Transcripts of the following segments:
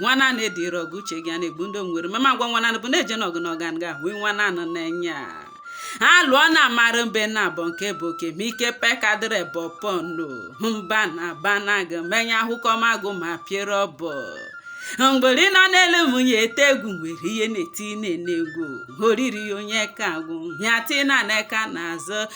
nwa naanị edịrị ọgụ uche gị a na-egbu ndo nwere mama ngwa nwa naanị bụ na-eje n'ọgụ na ọgan ga ahụ nwa naanị n'enya alụọ na amara mbe na abọ nke bụ oke ma ike pekadịrị bụ pọnụ mba na banag m enya ahụkọ magụ ma piere ọbọ mgbori nọ n'elu nwunye ete egwu nwere ihe na-eti na-ene egwu oriri onye ka agwụ ya tinara eka n'azụ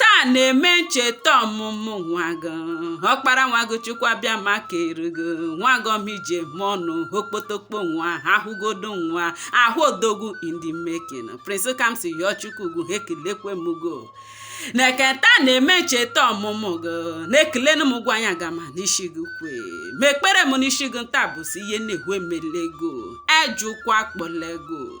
taa na-eme ncheta ọmụmụ nwa gị ọkpara nwa gị chukwu abịama kere gị nwa gị ọmije mọnụ okpotokpo nwa ahụgodo nwa ahụ odogwu in the making prince kamsiyọchukwu ugwu ekelekwe m go neke nta na-eme ncheta ọmụmụ gị na-ekele m gwa anya gama n'isi gị kwe m ekpere m n'isi gị nta bụ sị ihe na-ehwe melego ejikwa kpọlego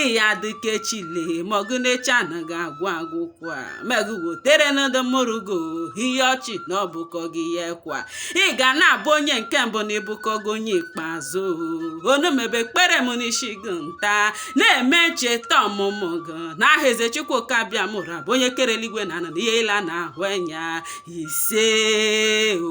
ị ya-adị ka echi le mọgụ na echi anaghị agwụ agwụ kwa me gụ wotere ndị mụrụ go ihe ọchị na ọ bụkọghị akwa ị ga na-abụ onye nke mbụ na ị bụkọghị onye ikpeazụ onume bụ ekpere m n'isi gị nta na-eme ncheta ọmụmụ gị n'aha eze chukwu okike abịama bụ onye kere eluigwe na ana na ihe ile a na-ahụ anya ise o